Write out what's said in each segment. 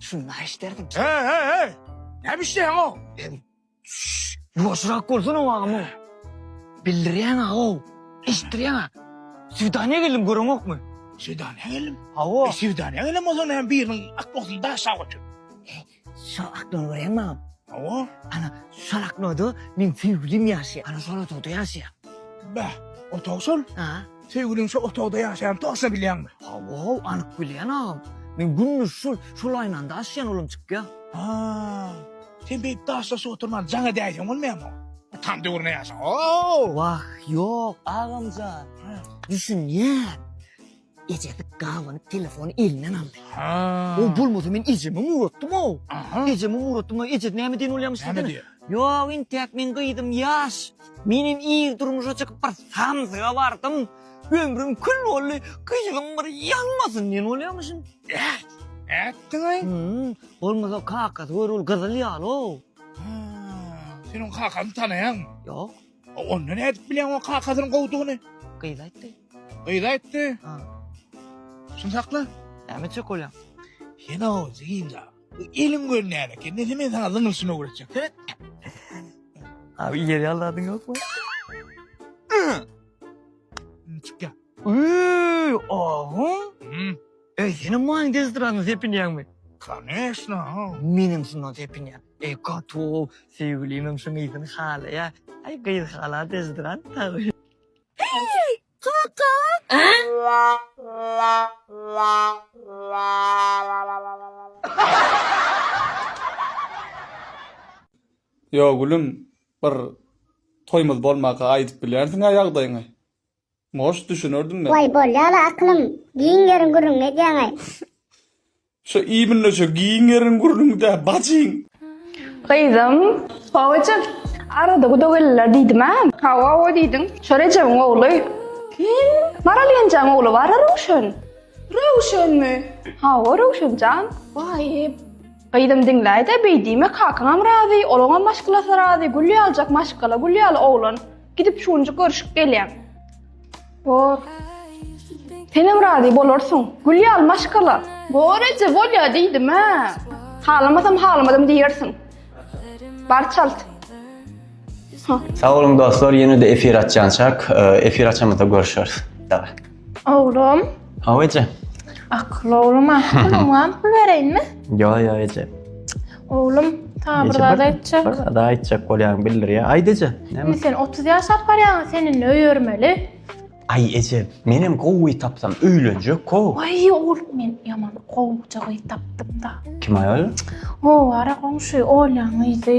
Şunu naýy işlerdiň? Heý, heý, heý! Näme işleýäň o? Ýuwaşrak bolsana agam o. Bildirýäň ago. Eşitdirýäň a. Swidaniýa geldim göreňokmy? Swidaniýa geldim? Hawa. Swidaniýa gelen bolsaň näme biriniň atbagysyny daşap otur. Şo akno görýäň maňa? Hawa. Ana, şol aknoda meň söýgülim ýaşaýar. Ana, şol otagda ýaşaýar. Bäh, otag şol? A. Söýgüliň şo otagda ýaşaýanyny toçna bilýäňmi? Hawa, anyk bilýän agam. Men gündiz şol, şol aýnany daşaýan olam çykýar. Haa. Sen beýdip daşlaşyp oturman jaň edäýseň bolmaýarmy? Tam döwrüne ýaşa. Ow! Wah, ýok, agamjan. Düşünýän. Ejesi gabanyp telefony elinden aldy. Ha. O bolmasa men ejeme uratdym o. Aha. Ejeme uratdym. Eje näme diýen bolýamyş Näme diýdi? diýýär? Ýok, intäk men gyzym ýaş. Men hem ir durmuşa çykyp bir samsyga bardym. Ömrüm kül boldy. Gyzym bir ýalmasyn diýen bolýamyşyn. Ätdiň-aý. Hmm, bolmasa kakasy gör ol gyzyl ýaly-ow. Ha. Seniň kakaňy tanaýaňmy? Ýok. A onda nädip bilýäň o kakasyny gowdugyny? Gyz aýtdy. Gyz aýtdy. Ha. Şuny sakla. Näme etjek bolýaň? Sen o zyňda. Bu eliň görünýän eken. Nese men sana zyňylyşyny öwretjek. Seret. Abi ýer ýalladyň ýokmy? Çykýa. Uy, oho. Hmm. Eý, senem maňa dezdradan sepinýäňmi? Koneşno, menem şundan sepinýän. Eý, gaty-ow, söýgülimem şuň ysyn halaýa. Aý, gyz hala dezdrant tagy. Eý, kaka! Ýo, gülüm, bir toýumyz bolmaka aýdyp bilýänsiň-ä ýagdaýyňy. Goş düşünerdim men. Way bolýala aklym giň ýeriň gürrüňini edýäňaý. Şo imnne şo giň ýeriň gürrüňi dä bajyň. Gyzym. Babajyk. Arada gudagelliler diýdim a. Hawa hawa diýdiň. Şo Rejebiň ogly. Kim? Maral ýenjäň ogly bara Röwşen. Röwşenmi? Hawa Röwşen jan. Waýy. Gyzym diňläýdä beý diýme kakaňam razy olaňam maşgalasy razy gül ýaljak maşgala gül ýaly oglan. Gidip şu günjük görüşüp gelýän. Bor. Senem razy bolarsyň. Gül ýaly maşgala. Bor eje bolýa diýdim ha. Halamasam halamadym diýersiň. Bar çalt. Sag boluň dostlar, ýene-de efir açýançak, e, efir açamyzda görüşeris. Daway. Oglum. Hawa eje. Akylly oglum, akylly oňam pul bereýinmi? Ýa, ýa eje. Oglum, sana bir zat aýtjak. Bir zat aýtjak bolýan bildir ýa. Aýt eje. Näme? Sen 30 ýaşap barýaň, sen indi öýermeli. Aý eje, men hem gowy tapsam öýlenjek ko. Aý oglum, men ýaman gowja gyz tapdym-da. Kim aýal? Howara goňşy Olýaň yzy.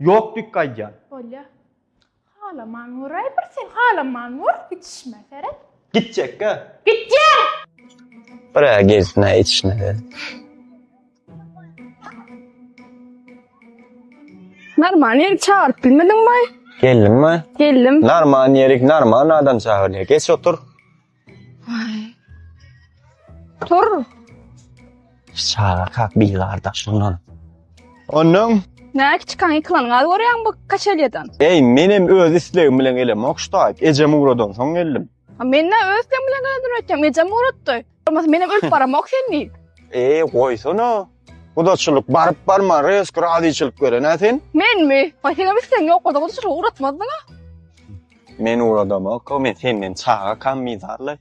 Ýok dikk aýdýan. Bolýa. Halaman göräý bir sen halaman gör ýetişme seret. Gitjekgä. Gitýän! Birä gelsinä ýetişme seret. Narman ýerik çagyryp bilmediňbaý. Geldim baý. Geldim. Narman ýerik narman adam çagyrýa geç otur. Tur. Şaga kak bir garda şundan. Ondan Näki çykan ykylan gaz görýäň bu kaçelýadan. Ey menem öz islegim bilen gelem okştaýyp. Ejem ugradan soň geldim. Ha men ne öz islegim bilen gelen durýatym. Ejem uratdy. Olmasa menem ölüp baramok sen diý. Ey goýsana. Gudaçylyk baryp barma resk razyçylyk beren ha sen. Menmi? Ay senem islegiň ýok bolsa gudaçylygy uratmazdyň ha. Men uradomok, men senden çaga kam mizarly.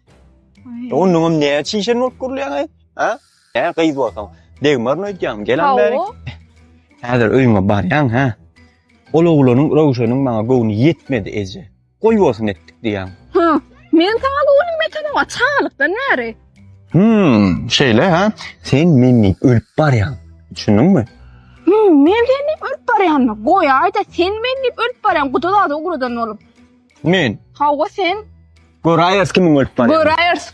Ondan näme çişen bolup gurulýaň aý? Ha? Ä gyz bolsaň, degmaryn öýdýäň, gelen bäri. Häzir öýüňe barýaň, ha? Ol oglanyň Röwşeniň maňa göwni ýetmedi eje. Goý bolsun etdik diýýäň. Ha, men saňa göwnüm ýetenoga çagalykdan bäri. Hmm, şeýle ha. Sen men diýip ölüp barýaň. Düşündiňmi? Hmm, men sen diýip ölüp barýanmy? Goýaýda sen men diýip ölüp barýaň. Guda zady ugradan bolup. Men. Hawa sen. Goraýas kimin ölüp barýaň. Goraýas.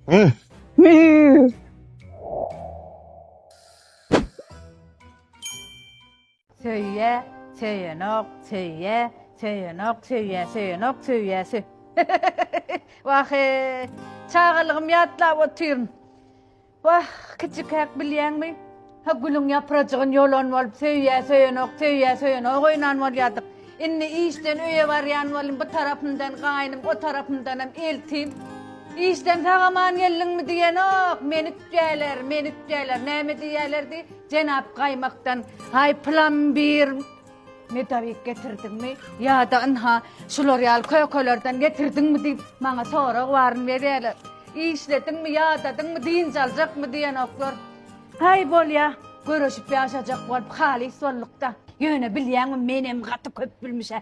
Hmm. Hmm. Söýýä, söýenok, söýýä, söýenok, söýýä, söýenok, söýýä, sö Wahe, çagalygym ýatlap otyryn. Wah, kiçikäk bilýäňmi? Ha gülüň ýaprajygyn ýolan bolup söýýä, söýenok, söýýä, söýenok oýnan bolýardyk. Indi işden öýe barýan bolum, bu tarapymdan gaýnym, o tarapymdanam eltim. Işden sag-aman geldiňmi diýenok, menüp diýerler, menüp diýerler. Näme diýerlerdi? Jenap gaýmakdan, Aý, plambir medowik getirdiňmi ýa-da ynha, şular ýaly kökelerden getirdiňmi diýip, maňa sorag baryn berýärler. Işlediňmi, ýadadyňmy, dynç aljakmy diýenoklar. Aý, bolýa, göreşip ýaşajak bolup halys bolduk-da. Ýöne bilýäňmi, menem gaty köp bilmiş-ä.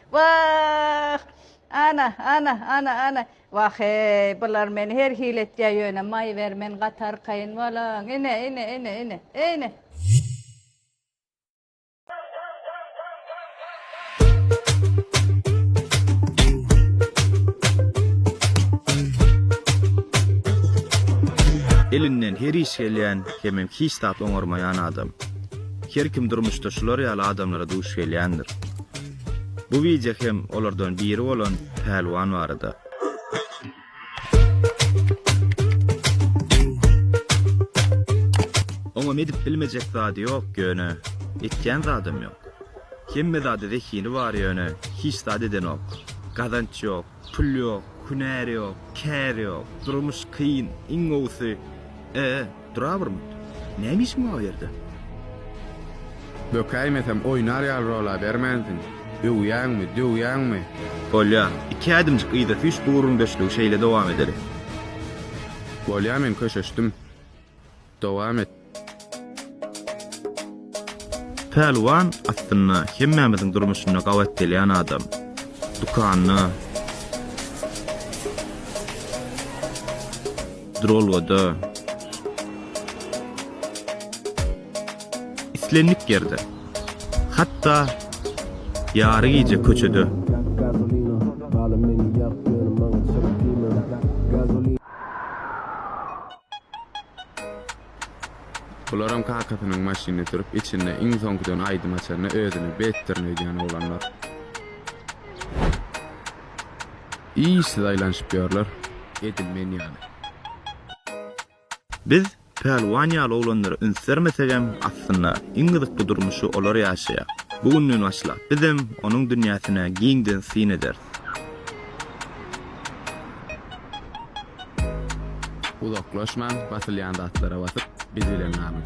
Wah! Ana, ana, ana, ana! Wah-eý, bular meni her hili etýär ýöne, maý ber, men gaty arkaýyn bolaň. Ine, ine, ine, ine, ine! Elinden her iş gelýän, hemem hiç zat oňarmaýan adam. Her kim durmuşda şular ýaly adamlara duş gelýändir. Bu wideo hem olardan biri bolan Pälwan barada. Oňam edip bilmejek zady ýok ýöne, etýän zadam ýok. Hemme zady zehini bar ýöne, hiç zat edenok. Gazanç ýok, Pul ýok, hünär ýok, kär ýok, durmuş kyn, iň gowusy, e, durabyrmyt? Näme işiň bar o ýerde? Bökäýmesem, oýnar ýaly bolabermänsiň. Öwýäňmi, döwýäňmi? Bolýa, iki ädimjik yza süýş bu gürrüňdeşligi şeýle dowam ederis. Bolýa, men köşeşdim. Dowam et. Pälwan aslynda hemmämiziň durmuşynda gabat gelýän adam. Dükanda, duralgada, islendik ýerde, hatda ýary gije köçede. Bularam kakasynyň maşynyny sürüp, içinde iň soňkudan aýdym açanda özüni betdirin öýdýän oglanlar. Işsiz aýlanyşyp ýörler, edil men ýaly. Biz Pälwan ýaly oglanlara üns bermesegem, aslynda, iň gyzykly durmuşy olar ýaşaýar. Bu günden başlap, bizem onuň dünýäsine giňden syn ederis. Uzaklaşmaň basylýan zatlara basyp biz bilen galyň.